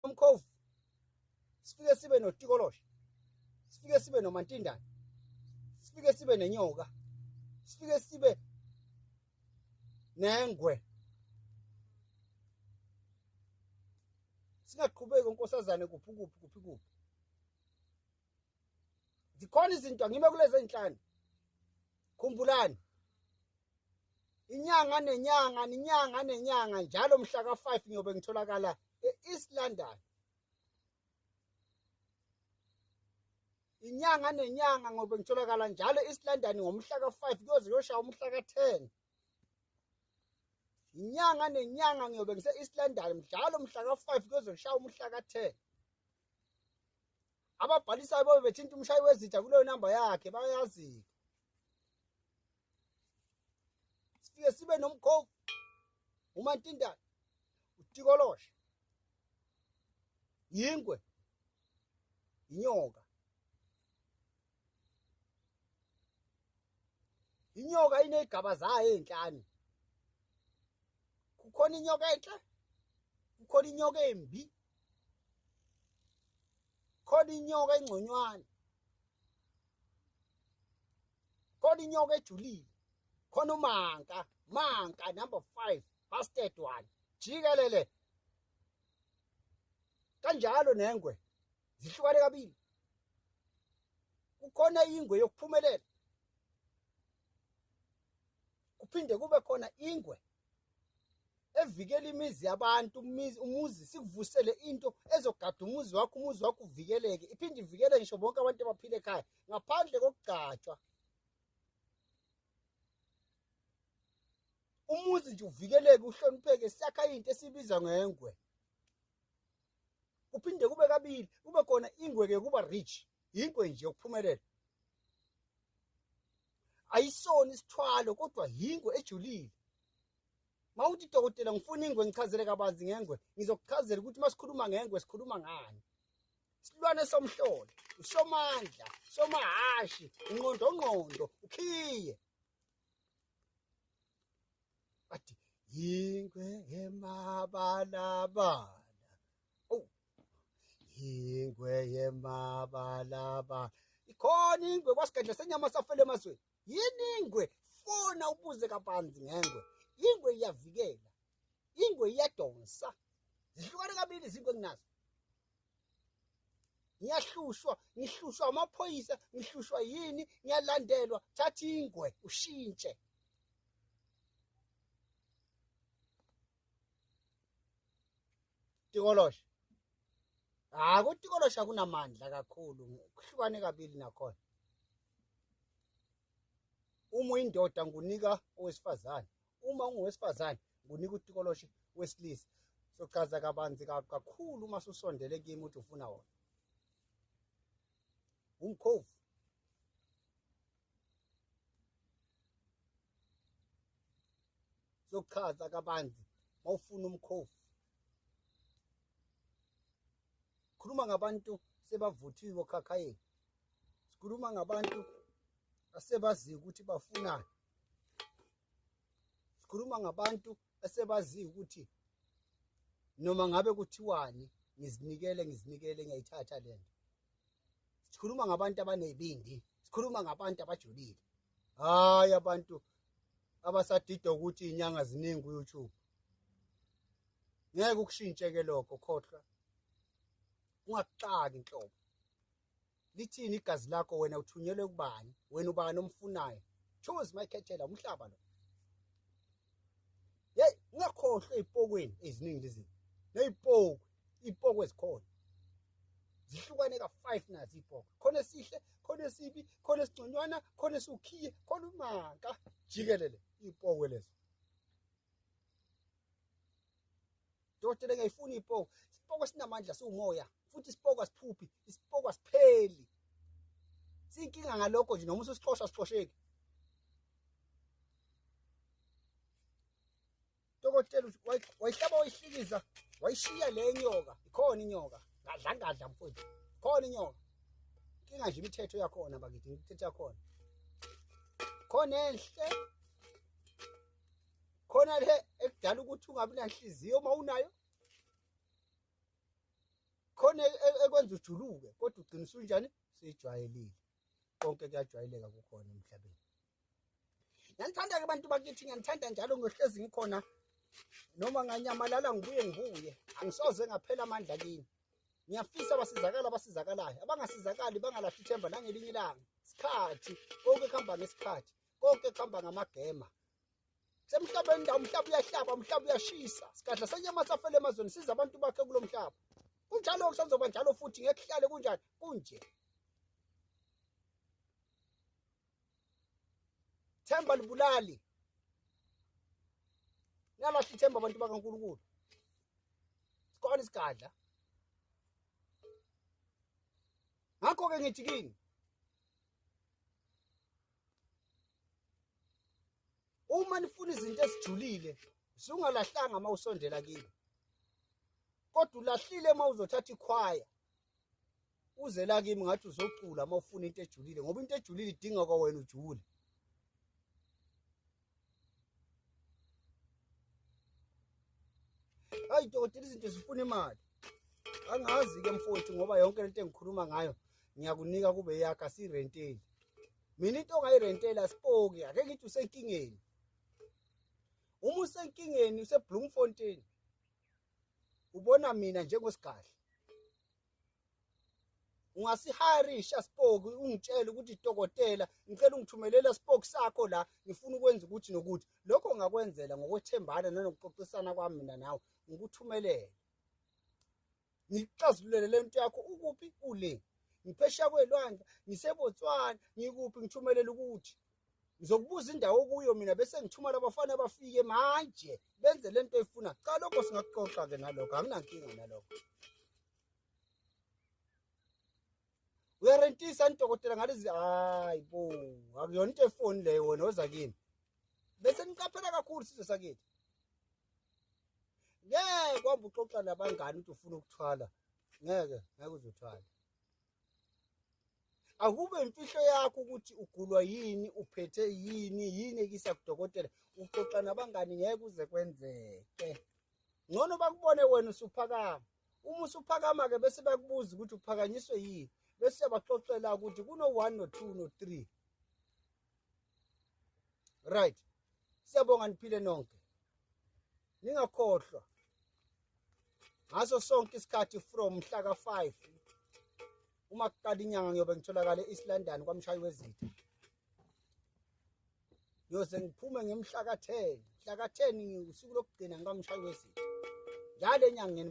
umkhovu sifike sibe notikoloshe sifike sibe nomantindane sifike sibe nenyoka sifike sibe nengwe singaqhubeki unkosazane kuphi kuphi kuphi kuphi zikhona izinto ngime kulezi enhlanu khumbulani inyanga nenyanga ninyanga nenyanga njalo mhla ka-5 ngiyobe ngitholakala e-east london inyanga nenyanga ngobe ngitholakala njalo e-east london ngomhla ka-5 kuyoze kuyoshaya umhla ka-10 inyanga nenyanga ngiyobe ngise-east london mdlalo mhla ka-5 kuyoze kushaya umhla ka-10 ababhalisayo bobe bethinta umshayi wezitha kuleyo namba yakhe bayazi-ke sifike sibe nomkhovu umantindane utikoloshe yingwe inyoka inyoka ineyigaba zayo ezinhlanu kukhona inyoka enhle kukhona inyoka embi khona inyoka engconywana khona inyoka ejulile khona umanka manka number 5 busted one jikelele kanjalo nengwe zihlukane kabili kukhona ingwe yokuphumelela kuphinde kube khona ingwe evikela imizi yabantu umuzi sikuvusele into ezogada umuzi wakho umuzi wakho uvikeleke iphinde ivikele ngisho bonke abantu abaphile ekhaya ngaphandle kokugcatshwa umuzi nje uvikeleke uhlonipheke siyakha into esibiza ngengwe kuphinde kube kabili kube khona ingweke yokuba rich yingwe nje ukuphumelela ayisona isithwalo kodwa yingwe ejulile mawuthi dokotela ngifuna ingwe ngichazele kabanzi ngengwe ngizokuchazela ukuthi masikhuluma ngengwe sikhuluma ngani silwane somhlolo usomandla somahashi inqondo ngqondo ukhiye Ati yingwe yemabalabala. Oh. Yingwe yemabalabala. Ikhona ingwe kwasigedle senyama safele emazweni. Yini ingwe? Fona ubuze kabanzi ngengwe. Ingwe iyavikela. Ingwe iyadonsa. Zihlukane kabili izingwe enginazo. ngiyahlushwa ngihlushwa amaphoyisa ngihlushwa yini ngiyalandelwa thatha ingwe ushintshe tikolosha hayi kutikolosha kunamandla kakhulu kuhlukane kabili nakhona uma uyindoda ngunika owesifazane uma ungowesifazane ngunika utikoloshe wesilisa sochaza kabanzi kakhulu uma susondele kimi ukuthi ufuna wona umkhovu sochaza kabanzi mawufuna umkhovu khuluma ngabantu sebavuthiwe okhakhayeni sikhuluma ngabantu asebaziyo ukuthi bafunani sikhuluma ngabantu asebaziyo ukuthi noma ngabe kuthiwani ngizinikele ngizinikele ngiyayithatha le nto sikhuluma ngabantu abanezibindi sikhuluma ngabantu abajulile hayi abantu abasadida ukuthi inyanga ziningi ku-youtube ngeke ukushintshe-ke lokho khohlwa ungakuxaki nhlobo lithini igazi lakho wena uthunyelwe kubani wena ubani omfunayo choose my khethela umhlaba lo hey ungakhohlwe ezipokweni eziningi lezi nezipoku izipoku ezikhona zihlukane ka 5 nazi izipoku khona esihle khona esibi khona esigconywana khona esukhiye khona umanka jikelele izipoku lezo Dokotela ngiyifuna ipoko. Isipoko sinamandla siwumoya futhi isipoko asiphuphi, isipoko asipheli. Sinkinga ngalokho nje noma usixosha sixosheki. Dokotela wayihlaba wayihlikiza wayishiya le nyoka ikhona inyoka ngadla ngadla mfowethu khona inyoka inkinga nje imithetho yakhona bakithi imithetho yakhona khona enhle khona le ekudala ukuthi ungabi nanhliziyo uma unayo khona e, e, ekwenza ujuluke kodwa ugcina usunjani seyijwayelile konke kuyajwayeleka kukhona emhlabeni ngiyanithanda-ke abantu bakithi ngiyanithanda njalo ngiyohlezi ngikhona noma nganyamalala ngibuye ngibuye angisoze ngaphela amandla kini ngiyafisa abasizakala abasizakalayo abangasizakali bangalahli ithemba nangelinye ilanga isikhathi konke kuhamba ngesikhathi konke kuhamba ngamagema semhlaba indawo umhlaba uyahlaba umhlaba uyashisa sigadla senyama safele emazweni siza abantu bakhe kulo mhlaba kunjalo kusazoba njalo futhi ngeke kuhlale kunjani kunje themba libulali niyalahla ithemba abantu bakankulunkulu sikhona isigadla ngakho-ke ngithi kini uma nifuna izinto ezijulile zungalahlanga uma usondela kimi kodwa ulahlile uma uzothatha ikhwaya uze la kimi ngathi uzocula uma ufuna into ejulile ngoba into ejulile idinga kwawena ujule hayi dokotela izinto zifuna imali angazi-ke mfowethu ngoba yonke lento engikhuluma ngayo ngiyakunika kube yakha sirenteli mina into ongayirenteli asipoki ake ngithi usenkingeni uma usenkingeni usebloemfontein ubona mina njengosigadla ungasiharisha spoke ungitshele ukuthi dokotela ngicela ungithumelela spoke sakho la ngifuna ukwenza ukuthi nokuthi lokho ngakwenzela ngokwethembana nanokuxoxisana kwami mina nawe ngikuthumelele ngikuxazululele le nto yakho ukuphi ule ngiphesha kwelwandle ngisebotswana ngikuphi ngithumelele ukuthi ngizokubuza indawo okuyo mina bese ngithuma labafana bafike manje benze lento efuna cha lokho singakuxoxa ke nalokho anginankinga nalokho uyarentisa nidokotela ngalezi hayi bo akuyona into efoni leyo wena oza kimi bese niqaphela kakhulu sizwe sakithi ngeke kwamba uxoxa nabangani ukuthi ufuna ukuthwala ngeke ngeke uzothwala akube imfihlo yakho ukuthi ugulwa yini uphethe yini yini ekisa kudokotela uxoxa nabangani ngeke uze kwenzeke ngcono bakubone wena usuphakama uma usuphakama-ke bese bakubuza ukuthi uphakanyiswe yini bese siyabaxoxela ukuthi kuno-one no-two no-three right siyabonga niphile nonke ningakhohlwa ngaso sonke isikhathi from mhla ka-5 uma kuqala inyanga ngiyobe ngitholakale e-east london kwamshayi wezitha ngiyoze ngiphume ngemhla ka-10 mhla ka-10 usuku lokugcina ngikamshayi wezitha njalo enyangeni